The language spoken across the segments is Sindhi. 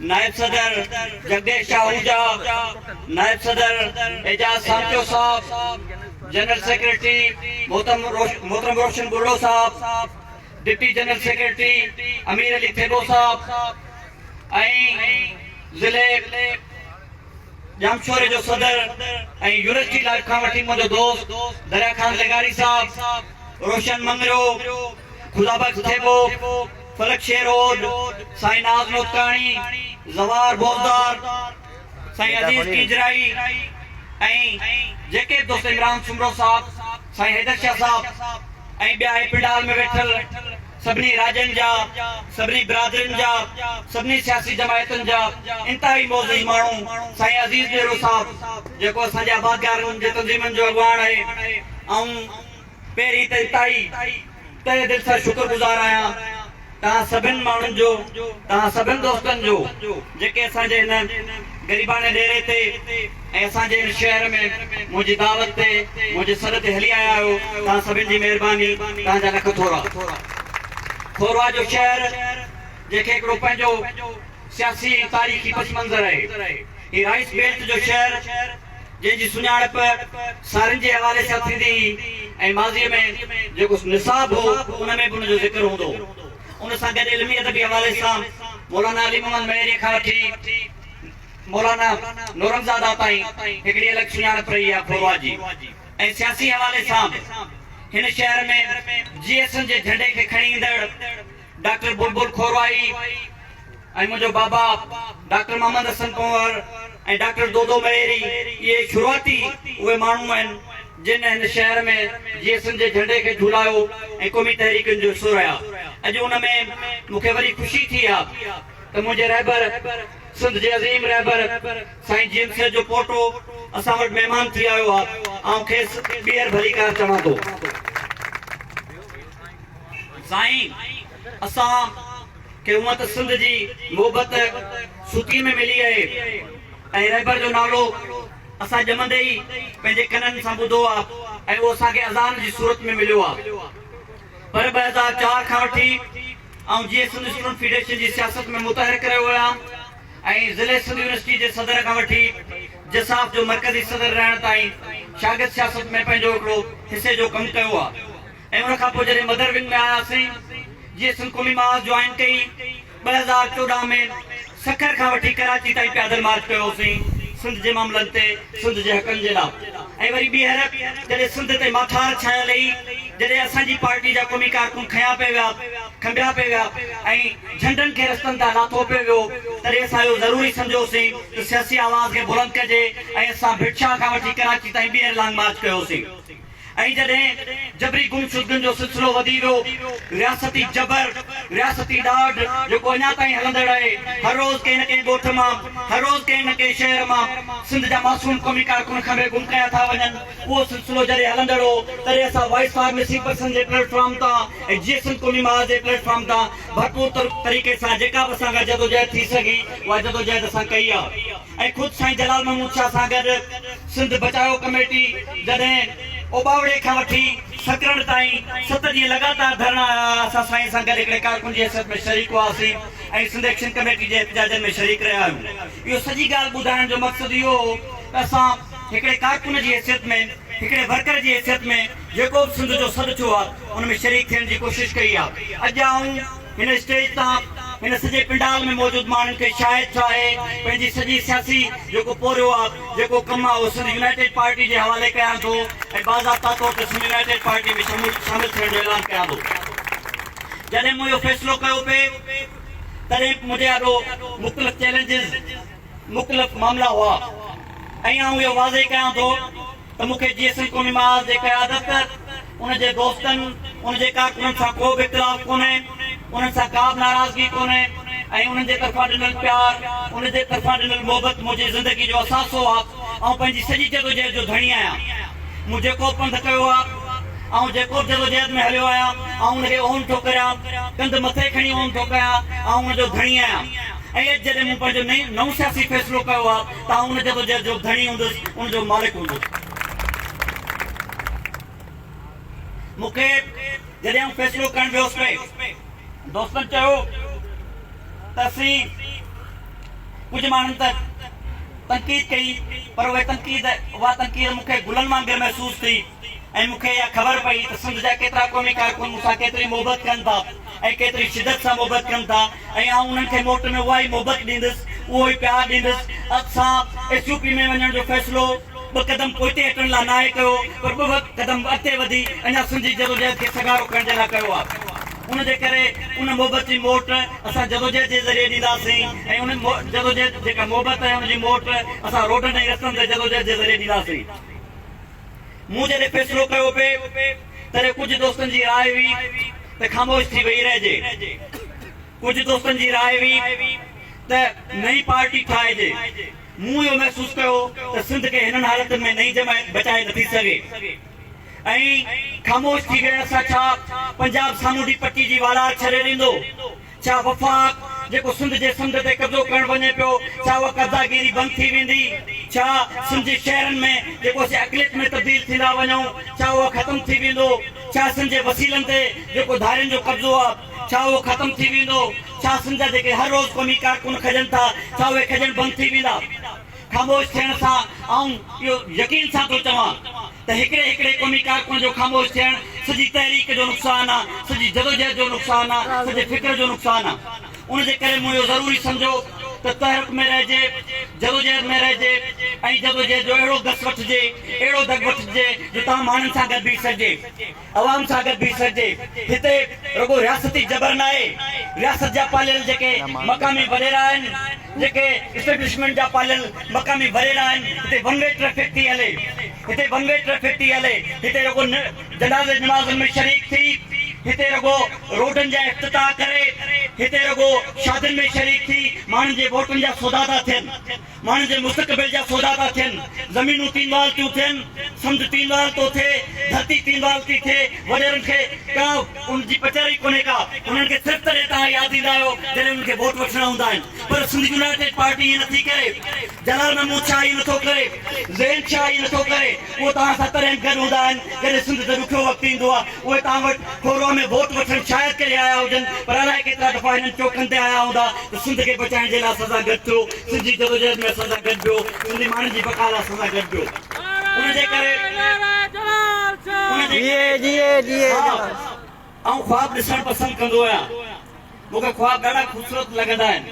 نائب صدر جگديش شاهوجا، نائب صدر اعجاز سانچو صاحب، جنرل سيڪريٽري محترم روشن ٻرڙو صاحب، deputy general secretary Amir Ali Thebo صاحب ۽ ضلعي ڄامشوري جو صدر ۽ يونيورسٽي لائيف کان وٺي منهنجو دوست دريا خان لغاري صاحب، روشن مڱريو، خدا بخش ٿيٻو، فلڪ شير اوڏ، سائين ناز نوتڪاڻي، زوار بوزدار، سائين عزيز ڪينجھرائي ۽ جيڪي به دوست عمران سومرو صاحب، سائين حيدر شاھ صاحب ۽ ٻيا اھي پنڊال ۾ ويٺل سڀني راڄن جا، سڀني برادرين جا، سڀني سياسي جماعتن جا انتھائي معزز ماڻھو، سائين عزيز ڏيرو صاحب جيڪو اسان جي آبادگارن جي تنظيمن جو اڳواڻ آھي، آئون پهرين ته اتاهي تهه دل سان شڪر گذار آهيان توهان سڀن ماڻهن جو توهان سڀن دوستن جو جيڪي اسان جي هن غريباڻي ڏيري تي ۽ اسان جي هن شهر ۾ منهنجي دعوت تي منهنجي سڏ تي هلي آيا آهيو توهان سڀن جي مهرباني توهان جا لک ٿورا کوروا جو شهر جنهن کي هڪڙو پنهنجو سياسي ۽ تاريخي پس منظر آهي هي رائيس بيلٽ جو شهر جنهن جي سڃاڻپ سارين جي حوالي سان ٿيندي هئي ۽ ماضيء ۾ جيڪو نصاب هو ان ۾ به ان جو ذڪر هوندو هو. ان سان گڏ علمي ادبي حوالي سان مولانا علي محمد مهيريء کان وٺي مولانا نورنگزاده تائين هڪڙي الڳ سڃاڻپ رهي آهي ڦوروا جي ۽ سياسي حوالي سان به هن شهر ۾ جي ايس اين جي جهنڊي کي کڻي ايندڙ ڊاڪٽر بلبل کورائي ۽ منهنجو بابا ڊاڪٽر محمد حسن پنهور ۽ ڊاڪٽر دودو مهيري اهي شروعاتي اهي ماڻهو آهن جن هن شهر ۾ جي ايس اين جي جهنڊي کي جهولايو ۽ قومي تحريڪن جو حصو رهيا اڄ ان ۾ مون کي وري خوشي ٿي آ ته منهنجي رهبر سنڌ جي عظيم رهبر سائين جي ايم سيد جو پوٽو اسان وٽ مهمان ٿي آيو آ آئون کيس ٻيهر ڀليڪار چوان ٿو. سائين اسان کي هونئن ته سنڌ جي محبت سوتيء ۾ ملي آهي ۽ رهبر جو نالو اسان ڄمندي ئي پنهنجي ڪنن سان ٻڌو آ ۽ اهو اسان کي اذان جي صورت ۾ مليو آ پر ٻه هزار چار کان وٺي آئون جيئي سنڌ اسٽوڊنٽ فيڊريشن جي سياست ۾ متحرڪ رهيو آهيان ۽ ضلعي سنڌ يونيورسٽي جي صدر کان وٺي جساف جو مرڪزي صدر رهڻ تائين شاگرد سياست ۾ پنهنجو هڪڙو حصي جو ڪم ڪيو آ. ۽ ان کان پوء جڏهن مدر ونگ ۾ آياسين، جي ايس ايل قومي محاذ جوائن ڪئي، ٻه هزار چوڏهن ۾ سکر کان وٺي ڪراچي تائين پيادل مارچ ڪيو هوسين، سنڌ جي معاملن تي، سنڌ جي حقن جي لا. ۽ وري ٻيهر جڏهن سنڌ تي ماٺار ڇانيل هئي، جڏهن اسان جي پارٽي جا قومي ڪارڪن کنيا پئي ويا، کنڀيا پئي ويا ۽ جهنڊن کي رستن تان لاٿو پئي ويو، تڏهن اسان اهو ضروري سمجهيوسين ته سياسي آواز کي بلند ڪجي ۽ اسان ڀٽ شاهه کان وٺي ڪراچي تائين ٻيهر لانگ مارچ ڪيوسين. ائين جڏهن جبري گمشدگين جو سلسلو وڌي ويو، رياستي جبر، رياستي ڏاڍ جيڪو اڃا تائين هلندڙ آهي، هر روز ڪنهن نه ڪنهن ڳوٺ مان، هر روز ڪنهن نه ڪنهن شهر مان سنڌ جا معصوم قومي ڪارڪن کنڀي گم ڪيا ٿا وڃن، اهو سلسلو جڏهن هلندڙ هو، تڏهن اسان وائيس فارميسي پرسن جي پليٽ فارم تان ۽ جيئي سنڌ قومي محاذ جي پليٽ فارم تان ڀرپور طريقي سان جيڪا به اسان کان جدوجهد ٿي سگهي، اها جدوجهد اسان ڪئي آهي. ۽ خود سائين جلال محمود شاهه سان گڏ سنڌ بچايو ڪميٽي جڏهن اوٻاوڙي کان وٺي سڪرنڊ تائين ست ڏينهن لڳاتار ڌرڻا هيا اسان سائين سان گڏ هڪڙي ڪارڪن جي حيثيت ۾ شريڪ هئاسين ۽ سنڌ ايڪشن ڪميٽي جي احتجاجن ۾ شريڪ رهيا آهيون اهو سڄي ڳالهه ٻڌائڻ جو مقصد اهو هو ته اسان هڪڙي ڪارڪن جي حيثيت ۾ هڪڙي ورڪر جي حيثيت ۾ جيڪو به سنڌ جو سڏ ٿيو آهي ان ۾ شريڪ ٿيڻ جي ڪوشش ڪئي آهي اڄ آئون هن اسٽيج تان هن سڄي پنڊال ۾ موجود ماڻهن کي شايد ڇا اهي پنهنجي سڄي سياسي جيڪو پورهيو آ جيڪو ڪم آ اهو سنڌ يونائيٽيڊ پارٽي جي حوالي ڪيان ٿو ۽ باضابطا طور تي سنڌ يونائيٽيڊ پارٽي ۾ شمول شامل ٿيڻ جو اعلان ڪيان ٿو جڏهن مون اهو فيصلو ڪيو پي تڏهن منهنجي آڏو مختلف چيلنجز مختلف معاملا هئا ۽ آئون اهو واضح ڪيان ٿو ته مون کي جيئي سنڌ قومي محاذ جي قيادت، ان جي دوستن، ان جي ڪارڪنن سان ڪو به اختلاف ڪونهي، انهن سان ڪا به ناراضگي ڪونهي ۽ انهن جي طرفان ڏنل پيار، ان جي طرفان ڏنل محبت منهنجي زندگي جو اثاثو آ، آئون پنهنجي سڄي جدوجهد جو ڌڻي آهيان، مون جيڪوبه پنڌ ڪيو آ، آئون جيڪوبه جدوجهد ۾ هليو آهيان، آئون ان کي اونهن ٿو ڪريان، ڪنڌ مٿي کڻي اونهن ٿو ڪيان، آئون ان جو ڌڻي آهيان ۽ اڄ جڏهن مون پنهنجو نئون سياسي فيصلو ڪيو آ، تان ان جدوجهد جو ڌڻي هوندس، ان جو مالڪ هوندس. مون کي جڏهن اهو فيصلو ڪرڻ ويو هوس پئي، دوستن چيو ته اسين ڪجهه ماڻهن ته تنقيد ڪئي، پر اهي تنقيد، اها تنقيد مون کي گلن وانگر محسوس ٿي. ۽ مون کي اها خبر پئي ته سنڌ جا ڪيترا قومي ڪارڪن مون سان ڪيتري محبت ڪن ٿا ۽ ڪيتري شدت سان محبت ڪن ٿا ۽ آئون انهن کي موٽ ۾ اها ئي محبت ڏيندس، اهو ئي پيار ڏيندس. اڳ سان ايس يو پي ۾ وڃڻ جو فيصلو ٻه قدم پوئتي هٽڻ لاء ناهي ڪيو پر ٻه قدم اڳتي وڌي اڃا سنڌ جي جدوجهد کي سگهارو ڪرڻ جي لاء ڪيو آهي. ان جي ڪري ان محبت جي موٽ اسان جدوجهد جي ذريعي ڏينداسين ۽ ان جدوجهد جيڪا محبت ۽ ان جي موٽ اسان روڊن ۽ رستن تي جدوجهد جي ذريعي ڏينداسين. مون جڏهن فيصلو ڪيو پي تڏهن ڪجهه دوستن جي راء هئي ته خاموش ٿي ويهي رهجي. ڪجهه دوستن جي راء هئي ته نئين پارٽي ٺاهجي. مون اهو محسوس ڪيو ته سنڌ کي هنن حالتن ۾ نئين جماعت بچائي نٿي سگهي ۽ خاموش ٿي ويهڻ سان ڇا پنجاب سامونڊي پٽي جي والار ڇڏي ڏيندو؟ ڇا وفاق جيڪو سنڌ جي سمنڊ تي قبضو ڪرڻ وڃي پيو، ڇا اها قبضاگيري بند ٿي ويندي؟ ڇا سنڌ جي شهرن ۾ جيڪو اسين اقليت ۾ تبديل ٿيندا وڃون، ڇا اهو ختم ٿي ويندو؟ ڇا سنڌ جي وسيلن تي جيڪو ڌارين جو قبضو آهي، ڇا اهو ختم ٿي ويندو؟ ڇا سنڌ جا جيڪي هر روز قومي ڪارڪن کڄن ٿا، ڇا اهي کڄڻ بند ٿي ويندا؟ خاموش ٿيڻ سان آئون اهو يقين سان ٿو چوان ته هڪڙي هڪڙي قومي ڪارڪن جو خاموش ٿيڻ سڄي تحريڪ جو نقصان آ، سڄي جدوجهد جو نقصان آ، سڄي فڪر جو نقصان آ. ان جي ڪري مون اهو ضروري سمجهو ته تحرڪ ۾ رهجي، جدوجهد ۾ رهجي ۽ جدوجهد جو اهڙو گس وٺجي، اهڙو دڳ وٺجي جو تمام ماڻهن سان گڏ بيهي سگهجي. عوام سان گڏ بيهي سگهجي. هتي رڳو رياستي جبر ناهي، رياست جا پاليل جيڪي مقامي وڏيرا آهن، جيڪي اسٽيبلشمينٽ جا پاليل مقامي وڏيرا آهن، هتي ون وي ٽريفڪ ٿي هلي، هتي ون وي ٽريفڪ ٿي هلي، هتي رڳو جنازي نمازن ۾ شريڪ ٿي، هتي رڳو روڊن جا افتتاح ڪري، هتي رڳو شادين ۾ شريڪ ٿي ماڻهن جي ووٽن جا سودا ٿا ٿين. ماڻهن جي مستقبل جا سودا ٿا ٿين، زمينون تينوال ٿيون ٿين، سمنڊ تينوال ٿو ٿئي، ڌرتي تينوال ٿي ٿئي، وڏيرن کي ڪا ان جي پچر ئي ڪونهي ڪا، انهن کي صرف تڏهن توهان ياد ايندا آهيو جڏهن انهن کي ووٽ وٺڻا هوندا آهن، پر سنڌ يونائيٽيڊ پارٽي ائين نٿي ڪري، جلال محمود شاهه ائين نٿو ڪري، ذهين شاهه ائين نٿو ڪري. اهو توهان سان تڏهن گڏ هوندا آهن جڏهن سنڌ تي ڏکيو وقت ايندو آهي. اهي توهان وٽ ڦوروا ۾ ووٽ وٺڻ شايد ڪري آيا هجن پر الائي ڪيترا دفعا هنن چوڪن تي آيا هوندا ته سنڌ کي بچائڻ جي لاء اسان سان گڏ ٿيو، سنڌ جي جدوجهد ۾ اسان سان گڏ بيهو، سنڌي ماڻهن جي بقا لاء اسان سان گڏ بيهو. ان جي ڪري ها آئون خواب ڏسڻ پسند ڪندو آهيان. مون کي خواب ڏاڍا خوبصورت لڳندا آهن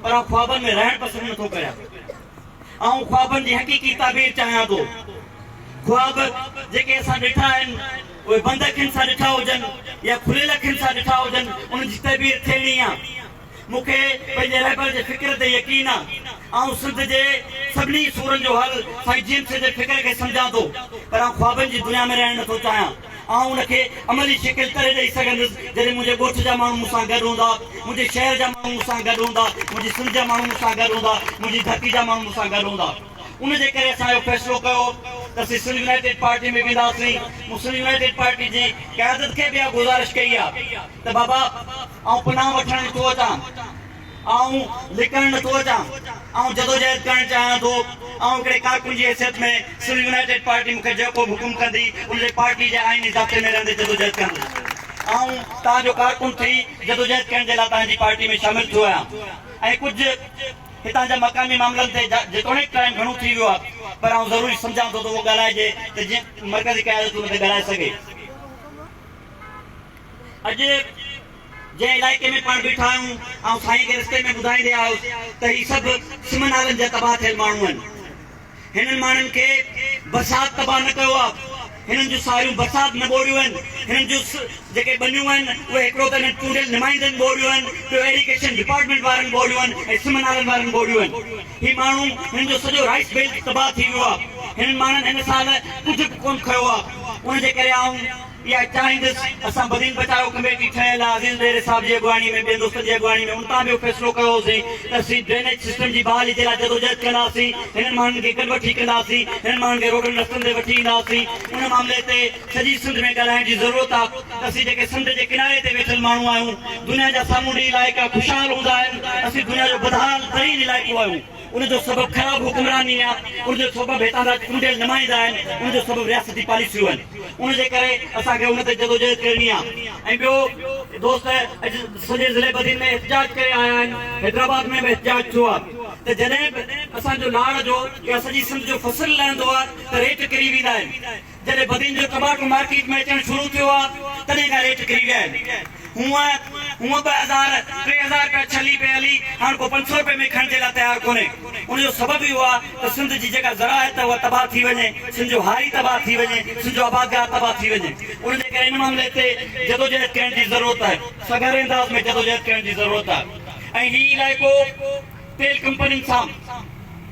پر آئون خوابن ۾ رهڻ پسند نٿو ڪريان. آئون خوابن جي حقيقي تعبير چاهيان ٿو. خواب جيڪي اسان ڏٺا آهن، اهي بند اکين سان ڏٺا هجن يا کليل اکين سان ڏٺا هجن، ان جي تعبير ٿيڻي آ. مون کي پنهنجي رهبر جي فڪر تي يقين آ. آئون سنڌ جي سڀني سورن جو حل سائين جيمس جي فڪر کي سمجهان ٿو، پر آئون خوابن جي دنيا ۾ رهڻ نٿو چاهيان. آئون ان کي عملي شڪل تڏهن ڏئي سگهندس، جڏهن منهنجي ڳوٺ جا ماڻهو مون سان گڏ هوندا، منهنجي شهر جا ماڻهو مون سان گڏ هوندا، منهنجي سنڌ جا ماڻهو مون سان گڏ هوندا، منهنجي ڌرتي جا ماڻهو مون سان گڏ هوندا. ان جي ڪري اسان اهو فيصلو ڪيو ته اسين سنڌ يونائيٽيڊ پارٽي ۾ وينداسين. مون سنڌ يونائيٽيڊ پارٽي جي قيادت کي به اها گذارش ڪئي آهي ته بابا، آئون پناهه وٺڻ نٿو اچان. آئون لڪڻ نٿو اچان، آئون جدوجهد ڪرڻ چاهيان ٿو، آئون هڪڙي ڪارڪن جي حيثيت ۾ سول يونائيٽيڊ پارٽي مون کي جيڪو به حڪم ڪندي ان لئي پارٽي جي آئيني ضابطي ۾ رهندي جدوجهد ڪندس، آئون توهان جو ڪارڪن ٿي جدوجهد ڪرڻ جي لاء توهان جي پارٽي ۾ شامل ٿيو آهيان ۽ ڪجهه هتان جا مقامي معاملن تي جيتوڻيڪ ٽائيم گهڻو ٿي ويو آهي پر آئون ضروري سمجهان ٿو ته اهو ڳالهائجي ته جيئن مرڪزي قيادت ان تي ڳالهائي سگهي. اڄ جنهن علائقي ۾ پاڻ بيٺا آهيون، آئون سائين کي رستي ۾ ٻڌائيندي آيس ته هي سڀ سم نالن جا تباهه ٿيل ماڻهو آهن. هنن ماڻهن کي برسات تباهه نه ڪيو آهي. هنن جون ساريون برسات نه ٻوڙيون آهن. هنن جون جيڪي ٻنيون آهن، اهي هڪڙو ته هنن چونڊيل نمائندن ٻوڙيون آهن، ٻيو ايريگيشن ڊپارٽمينٽ وارن ٻوڙيون آهن ۽ سم نالن وارن ٻوڙيون آهن. هي ماڻهو، هنن جو سڄو رائيس بيلٽ تباهه ٿي ويو آهي. هنن ماڻهن هن سال ڪجهه به ڪونه کنيو آهي. ان جي ڪري آئون. اها ئي چاهيندس، اسان بدين بچاء ڪميٽي ٺهيل آ، عزيز ڏيري صاحب جي اڳواڻي ۾ ٻين دوستن جي اڳواڻي ۾ ان تان به اهو فيصلو ڪيو هوسين ته اسين ڊرينيج سسٽم جي بحالي جي لاء جدوجهد ڪنداسين، هنن ماڻهن کي گڏ وٺي ڪنداسين، هنن ماڻهن کي روڊن رستن تي وٺي اينداسين، ان معاملي تي سڄي سنڌ ۾ ڳالهائڻ جي ضرورت آ ته اسين جيڪي سمنڊ جي ڪناري تي ويٺل ماڻهو آهيون، دنيا جا سامونڊي علائقا خوشحال هوندا آهن، اسين دنيا جو بدحال ترين علائقو آهيون. ان جو سبب خراب حڪمراني آ، ان جو سبب هتان جا چونڊيل نمائندا آهن، ان جو سبب رياستي پاليسيون آهن، ان جي ڪري اسان کي ان تي جدوجهد ڪرڻي آ ۽ ٻيو دوست اڄ سڄي ضلعي بدين ۾ احتجاج ڪري آيا آهن، حيدرآباد ۾ به احتجاج ٿيو آ ته جڏهن به اسان جو لاڙ جو يا سڄي سنڌ جو فصل لهندو آ ته ريٽ ڪري ويندا آهن، جڏهن بدين جو ٽماٽو مارڪيٽ ۾ اچڻ شروع ٿيو آ تڏهن کان ريٽ ڪري ويا آهن. هونء هونء ٻه هزار، ٽي هزار رپيا ڇلي پئي هلي هاڻ ڪو پنج سؤ رپئي ۾ کڻڻ جي لاء تيار ڪونهي. ان جو سبب اهو آ ته سنڌ جي جيڪا زراعت اها تباهه ٿي وڃي، سنڌ جو هاري تباهه ٿي وڃي، سنڌ جو آبادگار تباهه ٿي وڃي. ان جي ڪري ان معاملي تي جدوجهد ڪرڻ جي ضرورت آهي. سگهاري انداز ۾ جدوجهد ڪرڻ جي ضرورت آهي ۽ هي علائقو. تيل ڪمپنين سان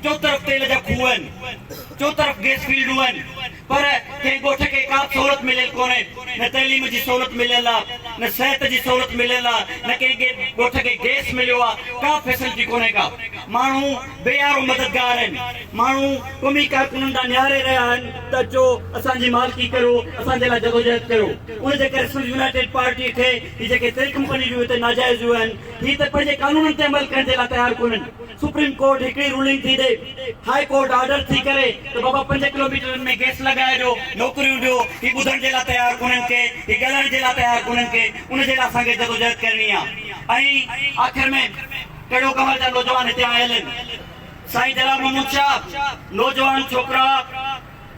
چوطرف تيل جا کوهه آهن، چوطرف گيس فيلڊون آهن پر ڪنهن ڳوٺ کي ڪا به سهولت مليل ڪونهي، نه تعليم جي سهولت مليل آ، نه صحت جي سهولت مليل آ، نه ڪنهن کي ڳوٺ کي گيس مليو آ، ڪا فيسلٽي ڪونهي ڪا. ماڻهو بي آرو مددگار آهن، ماڻهو قومي ڪارڪنن ڏانهن نهاري رهيا آهن ته اچو اسان جي مالڪي ڪريو، اسان جي لاء جدوجهد ڪريو. ان جي ڪري سنڌ يونائيٽيڊ پارٽي کي هي جيڪي تيل ڪمپنيون جون هتي ناجائز هيون آهن، هي ته پنهنجي قانونن تي عمل ڪرڻ جي لاء تيار ڪونهن، سپريم ڪورٽ هڪڙي رولنگ ٿي ڏئي، هاء ڪورٽ آرڊر ٿي ڪري ته بابا پنج ڪلوميٽرن ۾ گيس لڳائي ڏيو، نوڪريون ڏيو، هي ٻڌڻ جي لاء تيار ڪونهن ڪي، هي ڳالهائڻ جي لاء تيار ڪونهن ڪي، ان جي لاء اسان کي جدوجهد ڪرڻي آ ۽ آخر ۾ ڪهڙو ڪنور جا نوجوان هتي آيل آهن سائين جلال محمود شاهه نوجوان ڇوڪرا.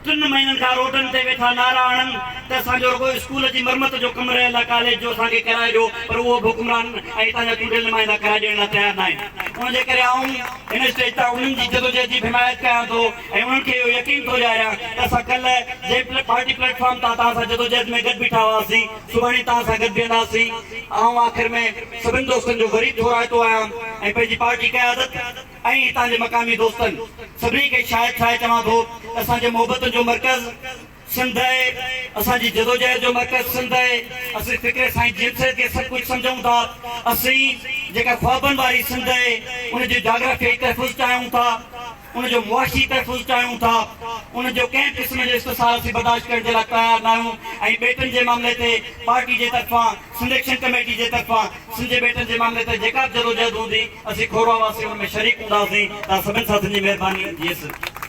ٽن مهينن کان روڊن تي ويٺا نعرا هڻن ته اسان جو رڳو اسڪول جي مرمت جو ڪم رهيل آهي، ڪاليج جو اسان کي ڪرائي ڏيو پر اهو به حڪمران ۽ هتان جا چونڊيل نمائندا ڪرائي ڏيڻ لاء تيار ناهن. ان جي ڪري آئون هن اسٽيج تان انهن جي جدوجهد جي به حمايت ڪيان ٿو ۽ انهن کي اهو يقين ٿو ڏياريان ته اسان ڪلهه جنهن پارٽي پليٽ فارم تان توهان سان جدوجهد ۾ گڏ بيٺا هئاسين، سڀاڻي توهان سان گڏ بيهنداسين. آئون آخر ۾ سڀن دوستن جو وري ٿورائتو آهيان ۽ پنهنجي پارٽي قيادت، ۽ اتان جي مقامي دوستن سڀني کي شاهد ٺاهي چوان ٿو ته اسان جي محبتن جو مرڪز سنڌ آهي، اسان جي جدوجهد جو مرڪز سنڌ آهي، اسين فڪر سائين جي ايم سيد کي سڀ ڪجهه سمجهون ٿا، اسين جيڪا خوابن واري سنڌ آهي ان جو جاگرافيائي تحفظ چاهيون ٿا، ان جو معاشي تحفظ چاهيون ٿا، ان جو ڪنهن قسم جو استحصال اسين برداشت ڪرڻ جي لاء تيار ناهيون ۽ ٻيٽن جي معاملي تي پارٽي جي طرفان سنڌ ايڪشن ڪميٽي جي طرفان سنڌ جي ٻيٽن جي معاملي تي جيڪا به جدوجهد هوندي، اسين کوروا واسي ان ۾ شريڪ هونداسين. توهان سڀني ساٿين جي مهرباني. جيئي سنڌ.